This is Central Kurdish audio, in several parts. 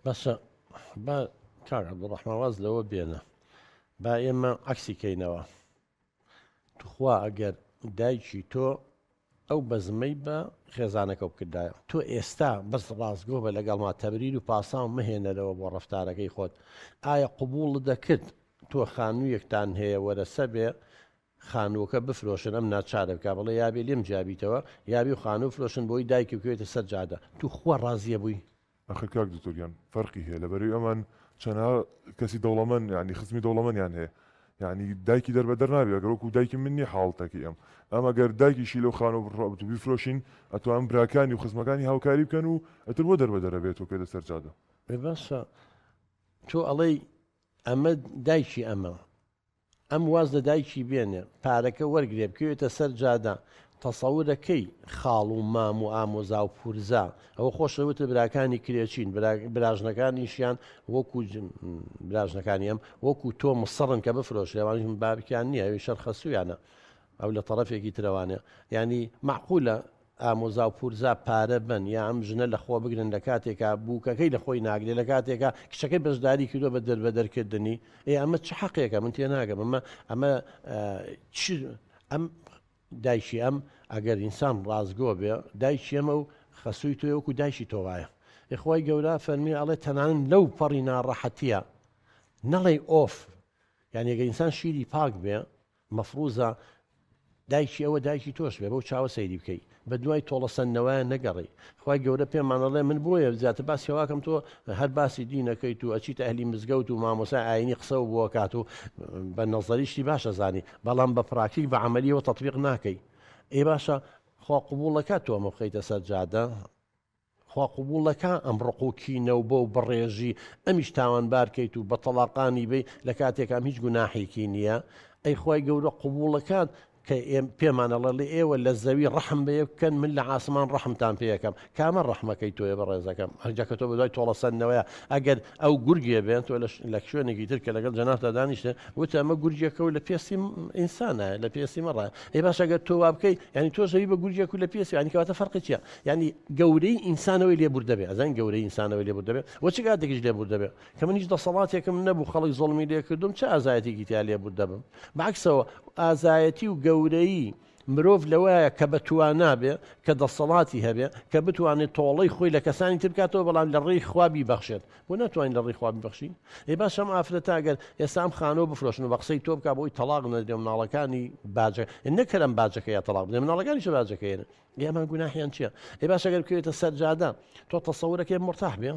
بەسە با کاک عبدالرحمن واز لەوە بێنە با ئێمە عکسی کەینەوە توخوا ئەگەر دایکی تۆ ئەو بەزمەی بە خێزانەکە بکردایە تۆ ئێستا بەس ڕاستگۆ بە لەگەڵما تەبریر و پاساو مەهێنەرەوە بۆ ڕفتارەکەی خۆت ئایا قوبوڵ دەکرد تۆ خانوویەکتان هەیە وەرەسە بێ خانووەکە بفرۆشن ئەم ناچارە بکا بڵێ یابێ لێم جیابیتەوە یابی و خانوو بفرۆشن بۆی دایکی بکەوێتە سەر جادە توخوا ڕازیە بووی. ئەخر کاک دکتۆر گیان فەرقی هەیە لە بەرەی ئەمان چەنها کەسی دەوڵەمەن یانی خزمی دەوڵەمەنیان هەیە یانی دایکی دەربەدەر نابی ئەگەر وەکو دایکی من نیە حاڵتەکەی ئەم ئەم ئەگەر دایکیشی لەو خانوە بڕا بتو بیفرۆشین ئەتوان براکانی و خزمەکانی هاوکاری بکەن و ئەتر بۆ دەربەدەر ئەبێت و کێتە سەر جادە. ئێ باشە تۆ ئەڵێی ئەمە دایکی ئەمە ئەم واز لە دایکی بێنێ پارەکە وەرگرێ بکەوێتە سەر جادە تەسەورە کەی خاڵ و مام و ئامۆزا و پورزا ئەوە خۆشە وتە براکانی کرێچین براژنەکانیشیان وەکو براژنەکانی ئەم وەکو تۆ مسڕن کە بفرۆش لێوانش من بابکیان نییە ئەوی شەرخەسوویانە ئەو لە طرفێکی ترەوانە ینی معقولە ئامۆزاو پورزا پارە بەن یا ئەم ژنە لەخۆ بگرن لەکاتێکا بوکەکەی لەخۆی ناگرێ لەکاتێکا کچەکەی بەژداری کردوە بە دەربەدەر کردنی ئێ ئەمە چ حەقێکە من تێناگەم ئەمە ئەمە چ ئەم دایکی ئەم ئەگەر ئینسان ڕازگۆ بێ دایکی ئەمە و خەسووی تۆ وەکو دایکی تۆ وایە ئخوای گەورە فەرمی ئەڵێ تەنانن لەو پەڕی ناڕەحەتیە نەڵێ ئۆف یانێگە ئینسان شیری پاک بێ مەفروزە دایکی ئەوە دایکی تۆش بێ بەو چاوە سەیری بکەی بە دوای تۆڵە سەندنەوەیان نەگەڕی خوای گەورە پێمان ئەڵێ من بۆیە زیاتر باس کەواکەم تۆ هەر باسی دینەکەیت و ئەچیت ئەهلی مزگەوت و مامۆسای ئاینی قسەو بووە کات و بە نەزەریشتی باشە زانی بەڵام بە پراکتیک بە عملیەوە تطبیق ناکەی ئێ باشە خوا قبوڵەکە تۆمە بخەیتە سەر جادە خوا قبوڵ نەکا ئەم ڕق و کینە و بەو بەڕێژی ئەمیش تاوانبار کەیت و بە تەڵاقانی بەی لە کاتێکا ئەم هیچ گوناحێکی نیە ئەی خوای گەورە قبوڵەکات کە ئێم پێمان ئەڵێ ئێوە لە زەوی ڕەحم بە یەک بکەن من لە عاسمان ڕەحمتان پێ یەکەم کامە ڕەحمەکەی تۆیە بەڕێزەکەم هەرجا کە تۆ بە دوای تۆڵە سەندنەوەیە ئەگەر ئەو گورگێ بێن تۆ لە ش- لە شوێنێکی تر کە لەگەڵ جەنابتا دانیشتە وتە ئەمە گورگێکە و لە پێستی م- ئینسانە لە پێستی مەڕە ئەی باش ئەگەر تۆ وا بکەی یعنی تۆ زەوی بە گورگێک و لە پێستی یعنی کەواتە فەرقی چیە یانی گەورەی ئینسانەوەی لێبوردەبێ ئەزانین گەورەی ئینسانەوەی لێبوردەبێ وە چ کاتێکیش لێبوردەبێ کە من هیچ دەسەڵاتێکم نەبوو خەڵک زۆڵمی لێکردوم چ ئازایەتێکی تیا لێبوردەبم بەعکسەوە ئازایەتی و گەورەی مرۆڤ لەوەیە کە بەتوانابێ کە دەسەڵاتی هەبێ کە بتوانێت تۆڵەی خۆی لە کەسانی تر بکاتەوە بەڵام لە ڕێی خوابی بەخشێت بۆ ناتوانین لە ڕێی خوابی بەخشین ئێ باشم ئافرەت ئەگەر ئێسام خانەوە بفرۆشن و بە قسەی تۆ بک بۆی تەلاق نەدرێ مناڵەکانی باجە نەکەرم باجەکە یا تەلاق بدە مناڵەکانی چ باجەکەێنە گیامان گوناحیان چیە ئەی باش ئەگەر بکەوێتە سەرجادە تۆ تەسەورەکەی مرتاح بێ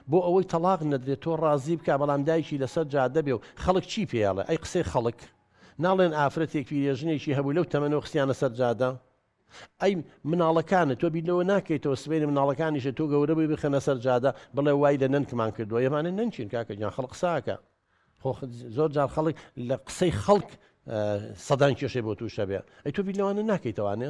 بۆ ئەوەی تەلاق نەدرێت تۆ ڕازی بکە بەڵام دایکی لەسەر جادە بێ و خەڵک چی پێڵێ ئەی قسەی خەڵک ناڵێن ئافرەتێک پیرێژنێکی هەبوو لەو تەمەەوە خستیانە سەر جادە ئەی مناڵەکانە تۆ بیرەوە ناکەیتەوە سبێنی مناڵەکانیشە تۆ گەورە بووی بخەنە سەر جادە بڵێ وای لە نەنکمان کردووە ئێمانە نەنچین کاکەگیان خەڵق ساکە خۆ زۆر جار خەڵک لە قسەی خەڵک سەدان کێشەی بۆ تووشە بێ ئەی تۆ بیر لەوانە ناکەیتەوانێ